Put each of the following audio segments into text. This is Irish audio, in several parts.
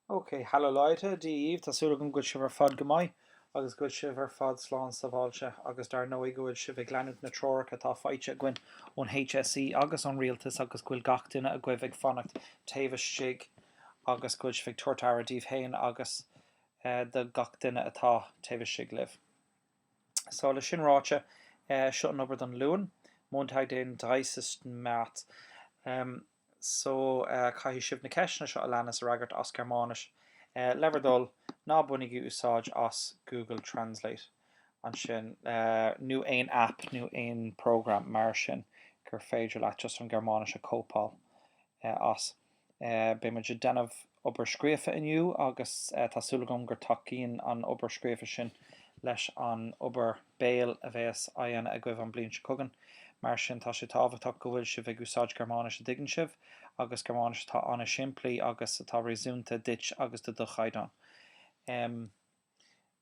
Ok, hello Leute, Dia dhaoibh, tá súil agam go bhfuil sibh ar fad go maith agus go bhfuil sibh ar fad slán sabháilte agus dar ndóigh go bhfuil sibh ag leanúint na treoracha atá faighte againn ón HSE agus ón Rialtas agus go bhfuil gach duine agaibh ag fanacht taobh istigh agus go bhfuil sibh ag tabhairt aire daoibh féin agus do gach duine atá taobh istigh libh. So, le sin ráite, seo an obair don Luan, Montag den 30. März. So, caithfidh sibh na ceisteanna seo a leanas a fhreagairt as Gearmáinis. Le bhur dtoil, ná bainigí úsáid as Google Translate ansin, nó aon aip nó aon program mar sin gur féidir leat just an Gearmáinis a cóipeáil as. Beidh muid ag déanamh obair scríofa inniu agus tá súil agam gur tacaíonn an obair scríofa sin leis an obair béil a bhéas á dhéanamh agaibh an bliain seo chugainn. Mar sin tá sé tábhachtach go bhfuil sibh ag úsáid Gearmáinis a dtuigeann sibh agus Gearmáinis atá an-simplí agus atá réasúnta duit agus do do chaighdeán.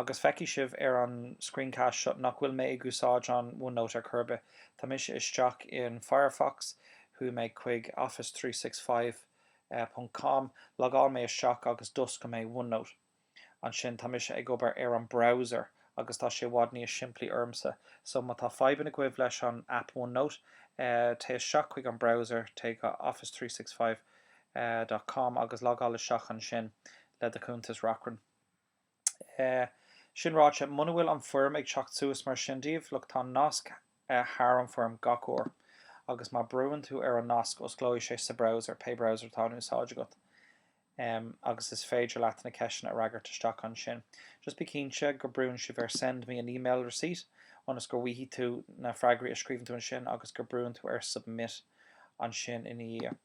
Agus feicfidh sibh ar an screencast seo nach bhfuil mé ag úsáid an OneNote ar chor ar bith. Tá mise isteach in Firefox, chuaigh mé chuig office three six five ponc com, logáil mé isteach agus d'oscail mé OneNote. Ansin tá mise ag obair ar an browser agus tá sé i bhfad níos simplí ormsa. So má tá fadhbanna agaibh leis an app OneNote, téigh isteach chuig an browser, téigh go office three six five dot com agus logáil isteach ansin le do chuntas Reachrann. Eh. sin ráite, muna bhfuil an foirm ag teacht suas mar sin daoibh, look, tá nasc thar an foirm gach uair agus má brúnn tú ar an nasc, osclóidh sé sa browser, pé browser atá in úsáid agat. Em. agus is féidir leat na ceisteanna a fhreagairt isteach ansin. Just bí cinnte go brúnn sibh ar send me an email receipt ionas go bhfaighidh tú na freagraí a scríobhann tú ansin agus go brúnn tú ar submit ansin ina dhiaidh.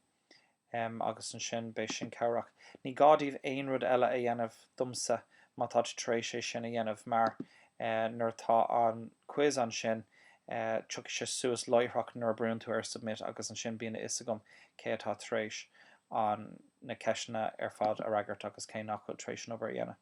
em agus ansin beidh sin cabhrach. Ní gá daoibh aon rud eile a dhéanamh, domsa, má tá tú tar éis é sin a dhéanamh mar eh nuair atá an quiz ansin eh tiocfaidh sé suas láithreach nuair a brúnn tú ar submit agus ansin bíonn a fhios agam cé atá tar éis an na ceisteanna ar fad a fhreagairt agus cé nach bhfuil tar éis an obair a dhéanamh.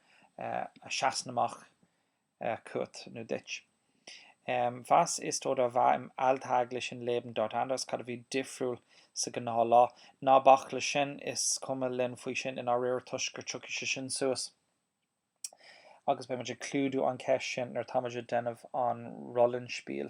a sheasann amach chugat nó duit. Was ist oder war im alltäglichen Leben dort anders? Cad a bhí difriúil sa ghnáth lá? Ná bac le sin, is cuma linn faoi sin i ndáiríre toisc gur tiocfaidh sé sin suas agus beidh muid ag clúdú an ceist sin nuair atá muid ag déanamh an Rollenspiel.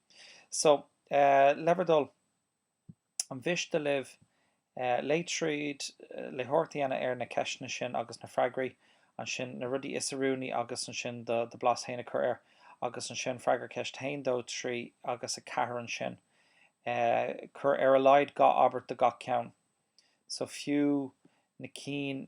So, le bhur dtoil, an mhiste libh léamh tríd, léitheoireacht a dhéanamh ar na ceisteanna sin agus na freagraí, ansin na rudaí is oiriúnaí agus ansin do bhlas féin a chur air, agus ansin freagair ceist 1, 2, 3 agus 4 ansin. Cuir ar a laghad dhá abairt do gach ceann. So, fiú na cinn.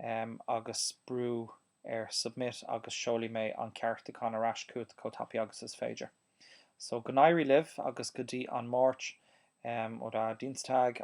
em, agus brú ar submit agus seolfaidh mé an ceartúchán ar ais chugat chomh tapaidh agus is féidir. So, go n-éirí libh agus go dtí an Mháirt, em, or Dienstag.